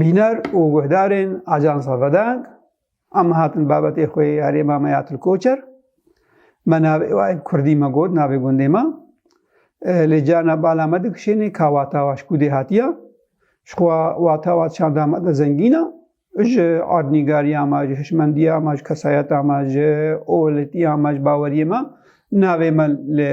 Bîner û guhdarên Ajansa Vedang em hatin babetê xwe yê herêma me ya Tilkoçer. Me navê wa yê Kurdî me got navê gundê me. Lê cana bala me dikişênê ka wata wa ji kûdê hatiye. Ji xwe wata wa çanda me de zengîn e. Ji erdnîgariya me, ji hişmendiya me, ji kesayeta me, ji olitiya me, ji baweriyê me navê me li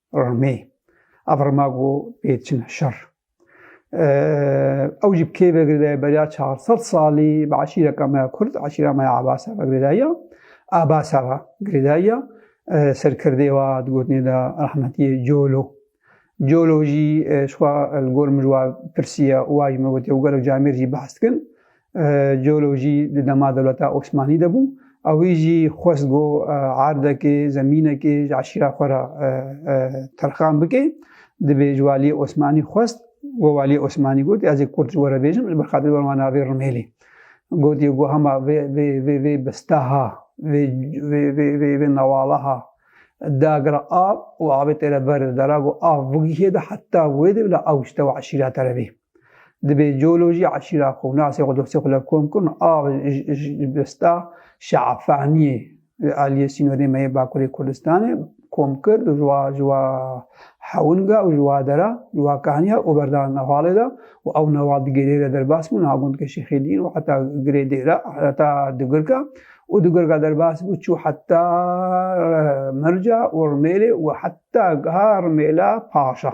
Rmê. Ev rma ku pê çine şer. Ew jî bi kê vegirê dayê beriya çar sed salî bi eşîreka me ya Kurd, eşîra me ya Abasa vegirê dayîya. Abasa ve girê dayîya. Serkirdê wa di gotinê de rehmetî Colo. Colo jî ji xwe li gor min ji wan pirsiye û wa jî min gotiye û gelek camêr jî behs dikin. Geolojî di dema dewleta Osmanî de bû. Ewî jî xwest go erdekê, zemînekê ji eşîra xwe re terxan bike. Divê ji waliyê Osmanî xwest we waliyê Osmanî got ez ê kurt ji we re bêjim ji ber xatir wan wan navê Rumêlî. Gotiye go hema vê vê vê vê bistaha vê vê vê vê vê nawalaha dagira av û avê têre ber dera go av bigihê de heta wê de bila ew ji te û eşîra te re bê. Dibê coolojî eşîra xwe û nasê xwe dostê xwe lev kom kirin a ji bista Şeafaniyê li aliyê sînorê me yê Bakurê Kurdistanê kom kir û ji wa ji wa hewinga û ji wa dera ji wa kaniya û berdan newalê de û ew newal di gêrê re derbas bû niha gundkê Şêxê Dîn û heta girê dêra heta digirka û digirka derbas bû çû heta mirca û rimêlê û heta giha rimêla paşa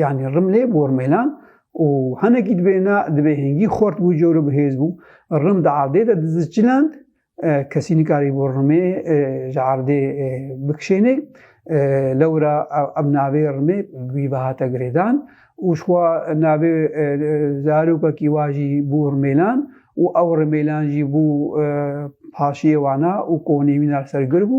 Yanî rimlê bor mêlan û hinekî dibêna dibê hingî xort bû cor û bihêz bû. Rim di erdê de diziçiland, kesî nikarî bor rimê ji erdê bikişênê. Lewra em navê rimê wî ve hate girêdan û şwa navê zarokekî wa jî bû rimêlan û ew rimêlan jî bû paşiyê wana û konî wîna li ser gir bû.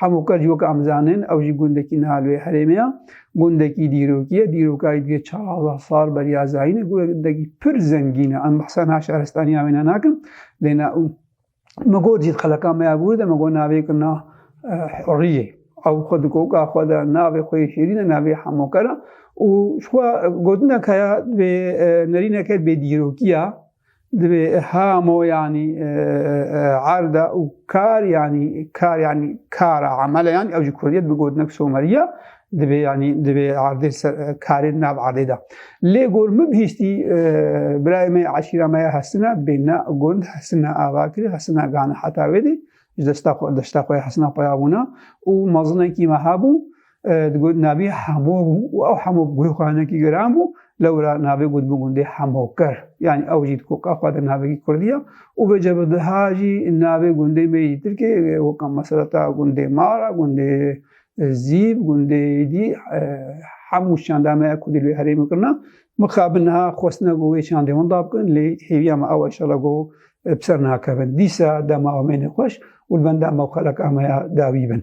Hemû kes ji weke em zanin ew jî gundekî niha li wê herêmê ye. Gundekî dîrokî ye. Dîrokayî divê çawazdeh sal beriya zayîn e. Gundekî pir zengîn e. Em behsa niha şaristaniya wê ne nakin. Lê na û min got jî xeleka me ya bûr de min got navê kir na Hurriyê. Ew xwe di koka xwe de navê xwe yê şêrîn e navê Hemûker e û ji xwe gotin e ka ya divê nerîneke bêdîrokî ya. Divê hamo yanî erda û kar yanî kar yanî kara emele yanî ew ji kurdiyê bi gotinek someriya divê yanî divê erdê karê nav erdê de. Lê gor min bihîstî birayê me eşîra me ya Hesina bêne gund Hesina Avakirî Hesina Gana heta wê dê ji desta xwe desta xwe Hesina Peyabûna û mezinekî me hebû Digot navê hemo bû û ew hemo guhxanekî giran bû lewra navê got bi gundê hemokir yanî ew jî koka xwe de navekî kurdî ye û vê cevdiha jî navê gundê me yî tirkê weka mesela ta gundê mara gundê zîb gundê dî hemû şanda me kurdî lê herê min kirina min xabin niha xwestina ku wê şandê hûn da bikin lê hêviya me ew eşala ku bi ser nakevin dîsa dema me nê xweş û li benda me xelek ameya dawî bin